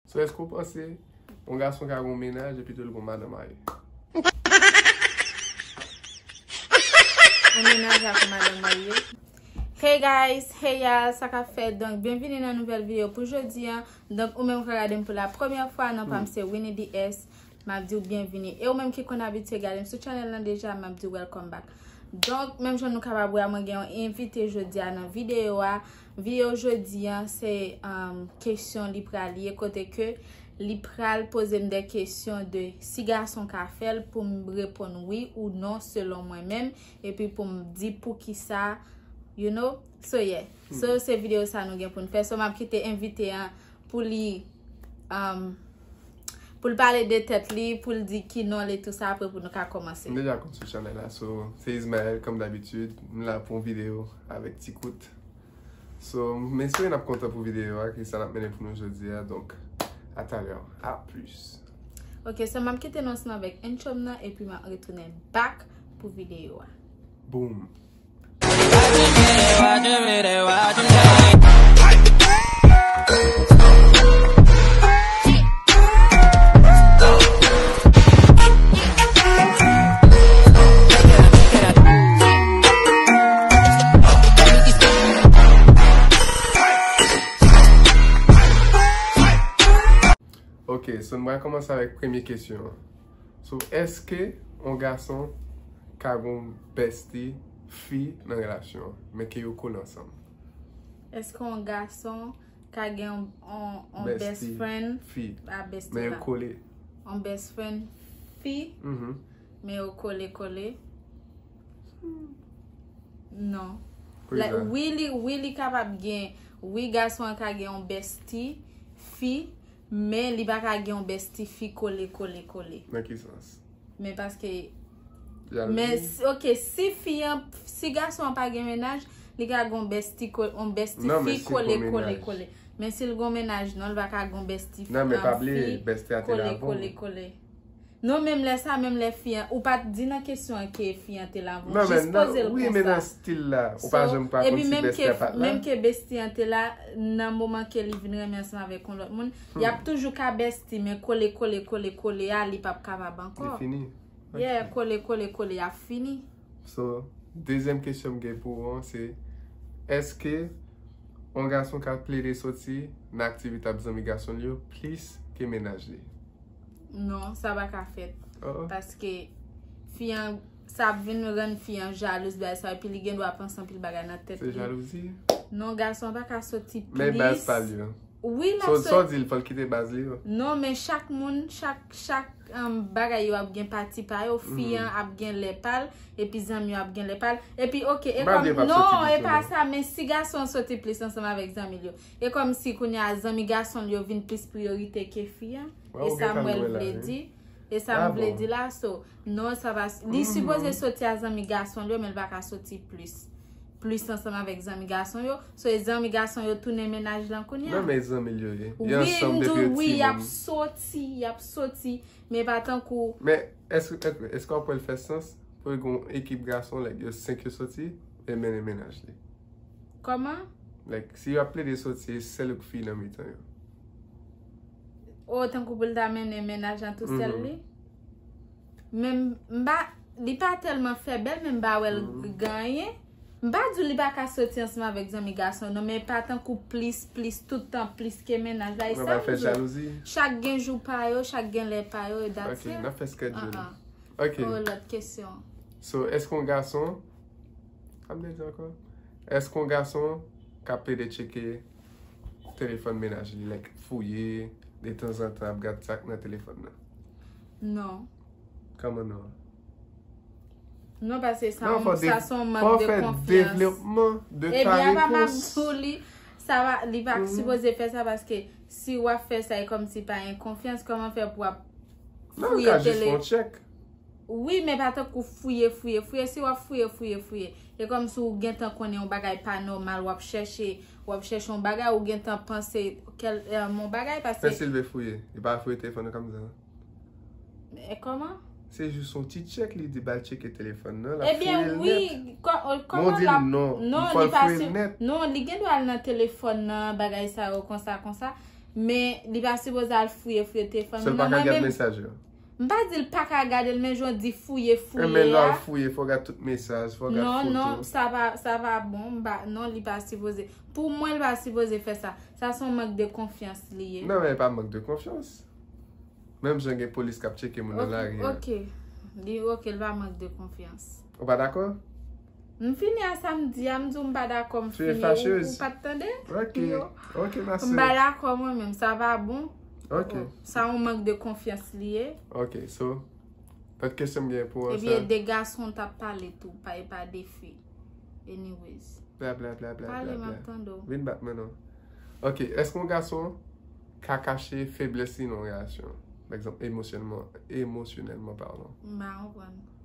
So eske ou panse yon gason ka gen yon mennaj epi tou li gen yon madan marye? Yon mennaj ak yon madan marye? Hey guys, hey y'all, sa kap fèt? Donk byenvini nan nouvèl video pou jodi an. Donk ou menm kap gade m pou la premyè fwa, non pa m se Winnie DS. Map diw byenvini. E ou menm ki konn abitye gade m sou channel lan deja, map diw welcome back. Donk menm jan nou kapab wè a mwen gen yon envite jodi a nan video a. Video jodi an se kesyon li pral ye kote ke li pral poze m de kesyon de si gason ka fè l pou m reponn wi ou non selon mwen menm epi pou m di poukisa you know so yeah so se video sa nou gen pou n fè so m ap kite envite an pou li pou l pale de tèt li pou l di ki non l e tou sa apre pou nou ka komanse. M deja konn sou chanèl la so se Ismael kòm dabitud m la pou yon video avèk ti kout. So, m espere n ap kontan pou videyo a ki sa l ap mennen pou nou jodi a. Donk, a talè. A plis. Ok, so m ap kite nou ansanm avèk entròm nan epi m ap retounen back pou videyo a. Boom! Ok, so nou va komanse avèk premye kesyon an. So, eske yon gason ka gen yon bestie fi nan relasyon an, men ke yo kole ansanm? Eske yon gason ka gen yon best friend fi? A besti la. Men yo kole. Yon best friend fi. Men yo kole kole. Non. Wi li kapab gen. Wi gason ka gen yon besti fi. Men li pa ka gen yon besti fi kole kole kole. Nan ki sans? Men paske. Yal Men gen. si ok si fi an si gason an pa gen mennaj li ka gen yon besti ko yon besti Non men fi si l kon kole kole mennaj. kole. Men si l gon mennaj non li pa ka gen yon besti Non men pa bliye fi besti a te kole lavan. kole kole. Non menm lè sa menm lè fi an ou pat di nan kesyon an ke fi an te la avan ou jis pozel konsa. Wi men nan stil la ou pa janm pa konn si bestie a pat la. Menm ke bestie an te la nan moman ke li vin renmen ansanm avèk yon lòt moun yap toujou ka bestie men kole kole kole kole a li pap kapab ankò. Li fini. Yeah kole kole kole a fini. So dezyèm kesyon m gen pou ou an se eske yon gason ka plede soti nan aktivite avk zanmi gason l yo plis ke mennaj li? Non, sa pa ka fèt. Paske, fi an, sa ap vin rann fi an jalouz bay sa, epi li gen dwa panse anpil bagay nan tèt li. Se jalouzi? Non, gason an pa ka soti plis. Men baz pa li yo. Wi, la soti. Sò di li, fòl kite baz li yo. Non, men chak moun, chak, chak bagay yo ap gen pati pa yo. Fi an ap gen lè pa l, epi zanmi yo ap gen lè pa l. Epi, ok, e kòm. Baz yo pa soti plis. Non, e pa sa, men si gason an soti plis ansanm avèk zanmi l yo. E kòmsi kounye a zanmi gason l yo vin plis priyorite ke fi a? E sa Mwen l vle di? E sa m vle di la so non sa pa li sipoze soti a zanmi gason l yo men l pa ka soti plis plis ansanm avèk zanmi gason yo so e zanmi gason yo tounen mennaj lan kounye a? Nan men zanmi l yo ye Yo ansanm depi yo ti moun Wi m di w wi y ap soti y ap soti men pa tankou Men èske w ap wè l fè sans pou l gen yon ekip gason lè yo 5 yo soti e l mennen mennaj li? Koman? Like si yo ap plede soti e sel ou ki fi nan mitan yo. Oh tankou pou l ta mennen mennaj lan tou sèl li. Men m pa, li pa tèlman fè bèl men m pa wè l gen anyen. M pa di w li pa ka soti ansanm avèk zanmi gason non men pa tankou plis plis tout tan plis ke mennaj la. Mwen pa fè jalouzi. Chak gen jou pa yo, chak gen lè pa yo e dat se. Ok, nan fè skèdjou nou. Ok. Ou lòt kesyon. So, èske yon gason Sa vle di ankò? Èske yon gason ka plede tcheke telefòn mennaj li, like fouye detanzantan ap gad sa k nan telefòn nan? Non. Kòman non? Non pase sa yon sason mank de konfyans. Fò fè devlopman de ta repons. Ebyen apa m ap di w li, sa va, li pa sipoze fè sa paske si w ap fè sa e kòmsi pa gen konfyans, kòman fè pou w ap. Nan ka jis fon tchek. Wi men pa tank ou fouye fouye fouye si wap fouye fouye fouye e kom si ou gentan konnen yon bagay pa nomal wap chèche wap chèche yon bagay ou gentan panse kel yon bagay pase. Fè silve fouye li pa fouye telefon nan kamzan. E koman? Se jis yon ti tchek li di bal tcheke telefon nan la fouye net. Ebyen wi koman la. Li di non li pa fouye net. Non li gen do al nan telefon nan bagay sa yo konsa konsa. Men li pa sipoze al fouye fouye telefòn moun nan mwen menm. M pa di l pa ka gade l men jan w di fouye fouye a. Men lè w al fouye fò w gade tout mesaj, fò w gade foto. Non, non, sa pa bon. Non, li pa sipoze. Pou mwen li pa sipoze fè sa. Sa son mank de konfyans li ye. Non, men pa mank de konfyans. Menm jan gen polis k ap tcheke moun nan lari. Ok, ok. Li ok, li pa mank de konfyans. Ou pa dakò? M fini a sa m di a, m di w m pa dakò m fini. Tu es facheuse? Ou pa t tande? Ok, ok ma sè. M pa dakò mwen menm, sa va bon? Ok. Sa yon mank de konfyans li ye. Ok, so, lòt kesyon m gen pou an sa. Ebyen de gason ta pale tou, pa e pa de fi. Anyways. Bla bla bla bla bla bla. Pale m ap tande w. Vin bat mwen non. Ok, èske yon gason ka kache feblès li nan yon relasyon? Par exemple, emosyonèlman, emosyonèlman parlant. M pa konprann.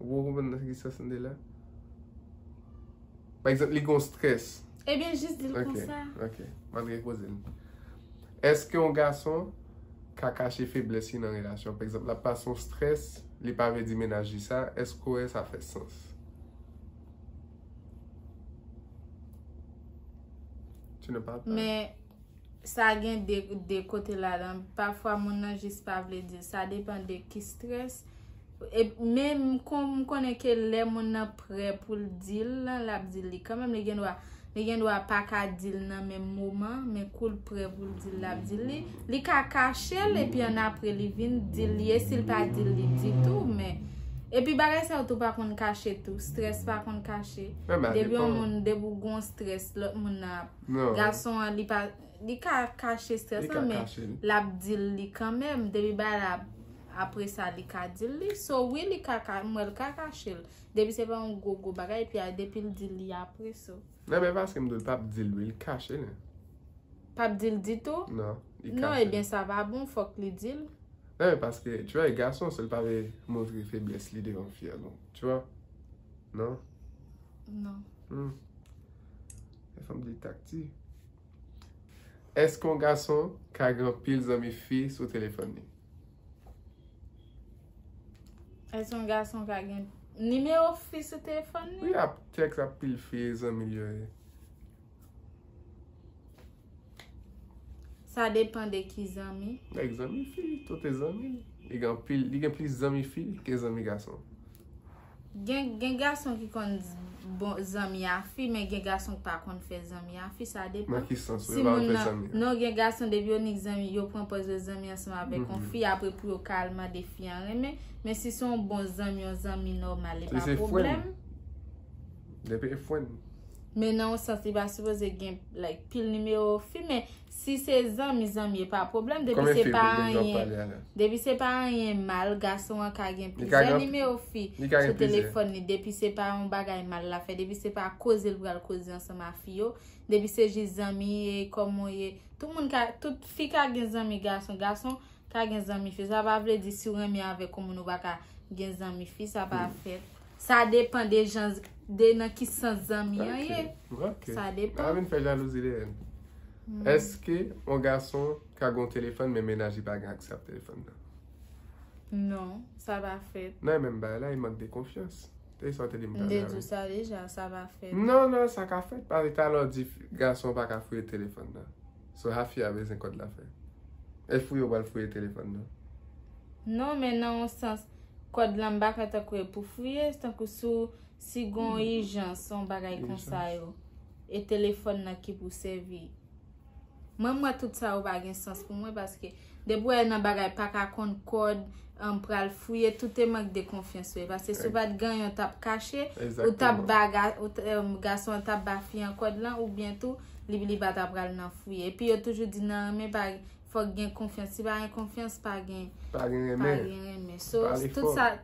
Ou poko konprann nan ki sans m te la? Pa egzanp, li gen yon strès. Ebyen jis di l konsa. Ok, ok. M ap repoze l. Eske yon gason ka kache feblès li nan relasyon? Pa egzanp, l ap pase yon strès, li pa vle di mennaj li sa. Eske w wè sa fè sans? Tu ne parles pas? Men. Sa gen de kote ladan. Pafwa moun nan jis pa vle di l. Sa depan de ki strès. Men m konnen ke lè moun nan prè pou l di l lan, l ap di l li kanmenm. Li gen dwa, li gen dwa pa ka di l nan menm moman. Men kou l prè pou l di l, l ap di l li. Li ka kache l epi annapre li vin di l li. E si l pa di l li ditou men. Epi bagay sa yo tou pa konn kache tou. Strès pa konn kache. Depi yon moun, depi w gen yon strès, lòt moun nan ap. Gason an li pa Li ka kache strès lan men Lap dil li kanmenm Depi bagay la Apresa li ka dil li So wi li ka ka Mwen li ka kachel Depi se pa yon gwo gwo bagay Epi a depil dil li apre so Nan men paske m di l pap dil wi Li kache l Pap dil ditou Nan li kache l Non ebyen sa pa bon Fok li dil Nan men paske Tu wè gason se l pa vle montre feblès li devan fi a non Tu wè Non Non Humm. Lè fanm di takti. Èske yon gason ka gen anpil zanmi fi sou telefòn li? Èske yon gason ka gen nimewo fi sou telefòn li? Wi, ap tèks ak pil fi zanmi l yo ye. Sa depan de ki zanmi? Lèk zanmi fi, tout e zanmi. Li gen plis zanmi fi ke zanmi gason. Gen gason ki konn bon zanmi a fi men gen gason ki pa konn fè zanmi a fi sa depan. Nan ki sans ou yo pa konn fè zanmi a fi? Non gen gason depi yo nik zanmi yo pran pòz yo zanmi ansanm avèk yon fi apre pou yo ka al mande fi an renmen men si se yon bon zanmi yon zanmi nòmal e pa pwoblèm. Depi se fren. Depi se fren. Men nan yon sans li pa sipoze gen like pil nimewo fi men. Si se zanmi zanmi e pa pwoblèm depi se pa anyen depi se pa anyen mal gason an ka gen plizyè nimewo fi sou telefòn li depi se pa yon bagay mal la fè depi se pa koze l pral koze ansanm a fi yo depi se jis zanmi e kòman w ye tout moun ka tout fi ka gen zanmi gason gason ka gen zanmi fi sa pa vle di si w renmen avèk yon moun ou pa ka gen zanmi fi sa pa fèt. Sa depan de jan, de nan ki sans zanmi an ye. Ok. Sa depan. Sa vin fè jalouzi dèyè n. Eske yon gason ka gen yon telefòn men mennaj li pa gen aksè ak telefòn nan? Non, sa pa fèt. Nan e menm bagay la, e mank de konfyans. E sa w te di m talè a. M te di w sa deja, sa pa fèt. Non, non, sa ka fèt. Paske talè w di gason an pa ka fouye telefòn nan. So sa fi a bezwen kòd la fè? E fouye ou pral fouye telefòn nan? Non, men nan yon sans. Kòd lan m pa kwè tankou e pou fouye, se tankou sou si gon ijans on bagay konsa yo. E telefòn nan ki pou sèvi. Mwen m wè tout sa yo pa gen sans pou mwen paske depi wè nan bagay pa ka konn kòd an pral fouye tout e mank de konfyans wè. Paske si w pat gen yon tap kache, ou tap ba gason an tap ba fi an kòd lan oubyen tou li pa ta pral nan fouye. Epi yo toujou di nan anme pa. fòk gen konfyans. Si pa gen konfyans, pa gen renmen. So,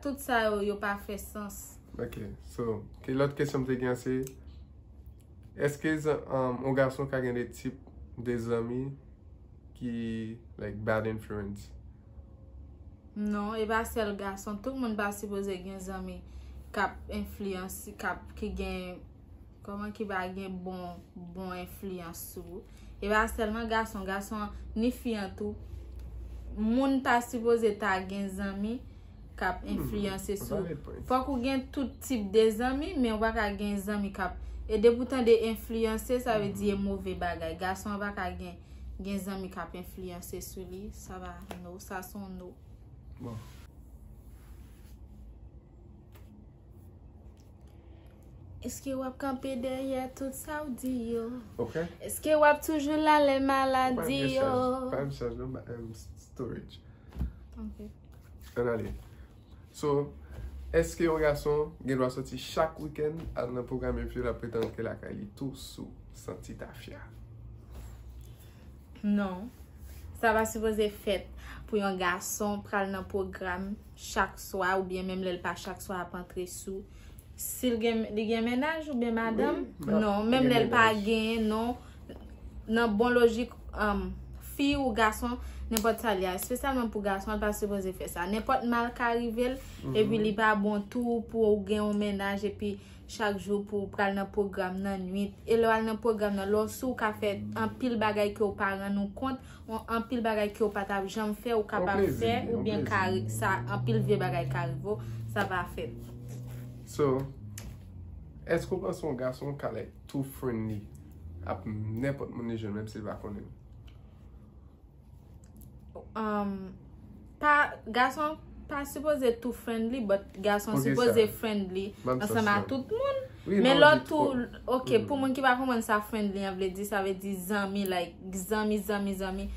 tout sa yo, yo pa fè sans. Ok, so, ki lòt kesyon m te gen se, eske yon gason ka gen de tip de zanmi ki, like, bad influence? Non, e pa sèl gason. Tout moun pa sipoze gen zanmi kap enflyanse, kap, ki gen... Koman ki va gen bon, bon enfliyans sou ou. E pa selman gason, gason ni fi an tou. Moun ta sipoze ta gen zanmi kap enfliyanse sou ou. Fok ou gen tout tip de zanmi, men ou pa ka gen zanmi kap. E depi ou tande enfliyanse, sa ve di e move bagay. Gason pa ka gen, gen zanmi kap enfliyanse sou li. Sa va no, sa son no. Bon. Eske wap kanpe dèyè tout sa ou di yo? Ok. Eske wap toujou la lè maladi yo? Mwen pa yon chaj non, mwen pa yon storage. Ok. An ale. So, eske yon gason gen dwa soti chak wikèn al nan pwogram epi la pretann ke lakay li tou sou santi tafya? Non. Sa pa sipoze fèt pou yon gason pral nan pwogram chak swa oubyen menm lè l pa chak swa ap antre sou si l gen li gen mennaj oubyen madanm non menm lè l pa genyen non nan bon lojik fi ou gason nenpòt sa li a espesyalman pou gason l pa sipoze fè sa nenpòt mal ka rive l epi li pa bon tou pou ou gen yon mennaj epi chak jou pou w pral nan pwogram nan nwit e lè w al nan pwogram nan lè w sou w ka fè anpil bagay ke w pa rann ou kont ou anpil bagay ke w pa tap janm fè ou kapab fè ou byen ka sa anpil vye bagay ka rive w sa va fè So Eske w panse yon gason ka like too friendly ap nenpòt moun li jwenn menm si l pa konnen l? Gason pa sipoze tou friendly but gason sipoze friendly Ansanm a tout moun Men lò tou Ok pou moun ki pa konprann sa friendly an vle di Sa vle di zanmi like zanmi zanmi zanmi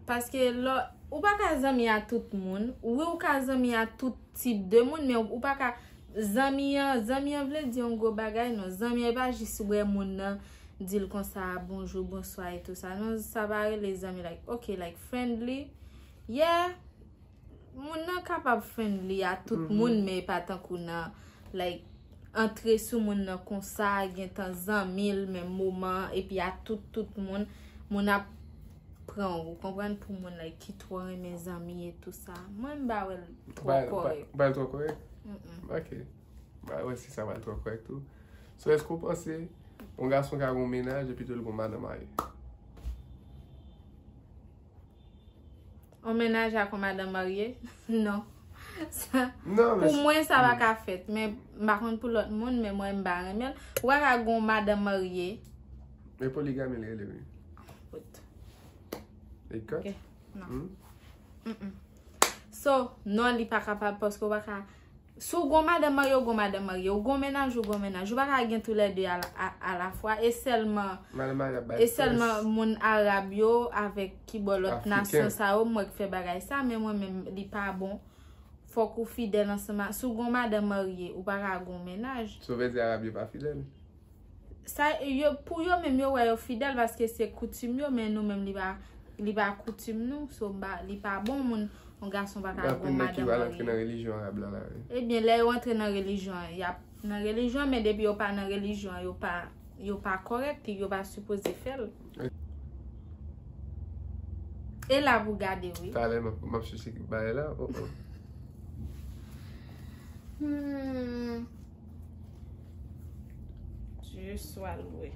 Paske lò Ou pa ka zanmi a tout moun Wi ou ka zanmi a tout tip de moun Men ou pa ka Zanmi an zanmi an vle di yon gwo bagay non Zanmi an e pa jis wè moun nan dil konsa bonjou bonswa etou sa non sa pa rele zanmi like ok like friendly yeah moun nan kapab friendly a tout moun men e pa tankou nan like antre sou moun nan konsa gentan zanmi l men moman epi a tout tout moun moun ap pran ou konprann pou moun like ki tro renmen zanmi etou sa mwen m ba wèl tro korek ba wèl tro korek ok Mwen wè si sa pral twò korèk tou. So èske ou panse yon gason ka gen yon mennaj epi tou l gen yon madan marye? Yon mennaj ak yon madan marye? Non. Pou mwen sa pa ka fèt. Men m pa konn pou lòt moun men mwen m pa renmen l. Ou pa ka gen yon madan marye. E poligami li rele wi. Kot. E kot? Non. So non li pa kapab paske ou pa ka. Si w gon madan marye w gon madan marye, w gon menaj w gon menaj, w pa ka gen tou lè 2 a la fwa e sèlman Madan marye ap bay pès. E sèlman moun arab yo avèk ki bò lòt nasyon sa yo m wè k fè bagay sa men mwen menm li pa bon fòk ou fidèl ansanm a si w gon madan marye ou pa ka gon menaj. Sa w vle di arab yo pa fidèl? Pou yo menm yo wè yo fidèl paske se koutim yo men nou menm li pa koutim nou so li pa bon moun yon gason pa ka gou madan marye. Ebyen lè yo antre nan relijyon an yap nan relijyon an men depi yo pa nan relijyon an yo pa korèk yo pa sipoze fèl. E la pou gade wi. Talè map chèche kèk bagay la oh oh. Dieu soit loué.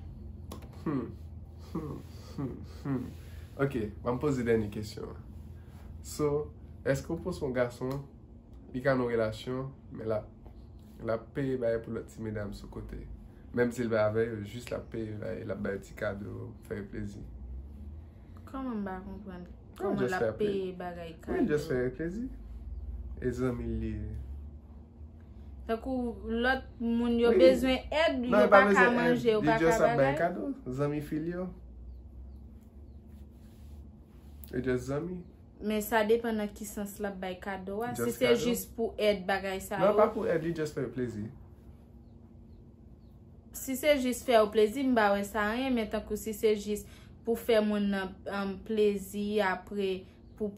Hmm. Hmm. Hmm. Hmm. Ok, mwen pose dèni kesyon. So, eske ou pose yon gason, li ka nan relasyon, men la, la peye baye pou lòt ti medam sou kote. Menm si l pa avè yo, jis la peye baye, la baye ti kado, fè yo plezi. Kòman m pa konprann? Kòman la peye bagay kado? Mwen jis fè yo plezi. E zanmi li. Tankou lòt moun yo bezwen èd, yo pa ka manje, yo pa ka bagay. Non, yo pa bezwen èd. Yo just ap bay kado. Zanmi fil yo. Yo just zanmi. Men sa depan nan ki sans l ap bay kado a. Si se jis pou èd bagay sa yo. Non, pa pou èd. Li just fè yo plezi. Si se jis fè yo plezi, m pa wè sa anyen. Men tankou si se jis pou fè moun nan plezi apre. pou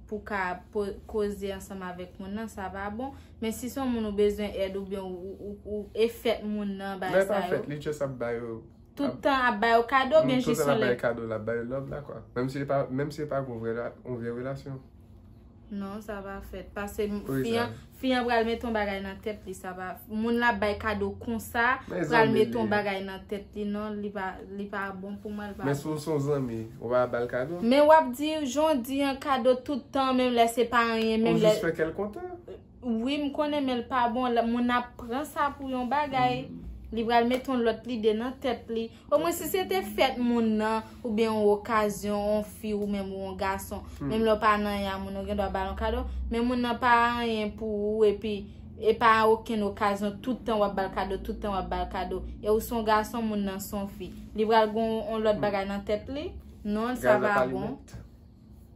pou ka koze ansanm avèk moun nan sa pa bon men si son moun ou bezwen èd ou byen ou e fèt moun nan bay sa yo lè pa fèt li just ap bay yo tout tan ap bay yo kado byen jis yon lè ap bay yo love la kwa menm si menm si e pa yon vrè yon vrè relasyon non sa pa fèt paske fi an. Fi an pral met on bagay nan tèt li sa pa moun lap bay kado konsa pral met on bagay nan tèt li non li pa bon pou mwen li pa bon. Men si w son zanmi ou pa bal kado? Men wap di jan w di an kado tout tan menm lè se pa anyen menm lè. Ou jis fè kè l kontan. Wi m konnen men l pa bon moun ap pran sa pou yon bagay li pral met on lòt lide nan tèt li. Omwen si se te fèt moun nan, oubyen yon okazyon, yon fi ou menm ou yon gason, menm lè w pa nan anyen a moun nan, ou gen dwa ba l yon kado, men moun nan pa anyen pou ou epi e pa okenn okazyon tout tan w ap ba l kado, tout tan w ap ba l kado, e ou s on gason moun nan s on fi, li pral gen yon lòt bagay nan tèt li? Non sa pa bon.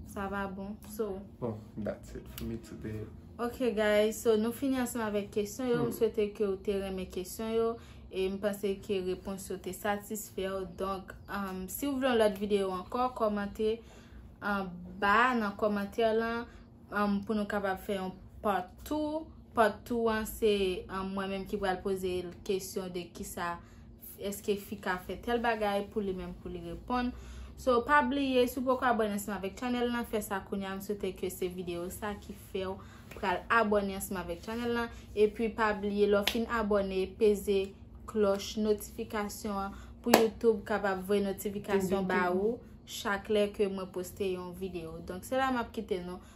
Sa va bon. So. Bon, that's it for me today. Ok guys, so nou fini ansan avèk kesyon yo. M swete ke ou te renmen kesyon yo. E m panse ke repons yo te satisfè yo. Donk, um, si ou vle yon lòt videyo ankò, kòmante an ba nan kòmantè lan um, pou nou kapab fè yon part 2. Part 2 an se um, mwen menm ki pral poze kesyon de kisa Eske fi ka fè tèl bagay pou li menm pou li reponn. So pa bliye si w poko abone ansanm avèk channel lan fè sa kounya m swete ke se video sa ki fèw pral abone ansanm avèk channel lan epi pa bliye lè w fin abone peze klòch notifikasyon an pou YouTube kapab voye notifikasyon ba ou chak lè ke mwen poste yon video donk se la map kite nou.